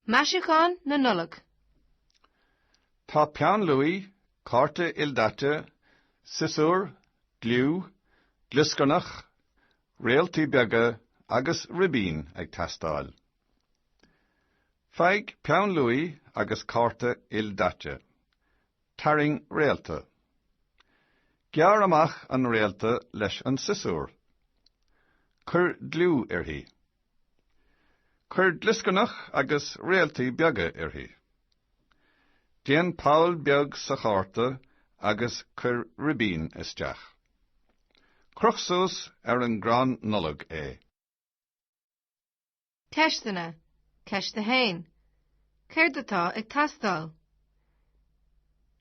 Maisiúcháin na Nollag. Tá peann luaí, cárta ildaite, siosúr, gliú, glioscarnach, réaltaí beaga agus ribín ag teastáil. Faigh peann luaí agus cárta ildaite. Tarraing réalta. Gearr amach an réalta leis an siosúr. Cuir gliú uirthi. Cuir glioscarnach agus réaltaí beaga uirthi. Déan poll beag sa chárta agus cuir ribín isteach. Croch suas ar an gcrann Nollag é. Ceisteanna, Ceist 1. Céard atá ag teastáil?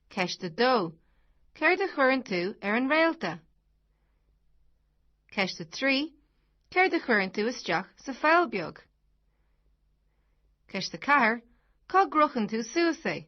Ceist 2. Céard a chuireann tú ar an réalta? Ceist 3. Céard a chuireann tú isteach sa pholl beag? Ceist 4. Cá gcrochann tú suas é?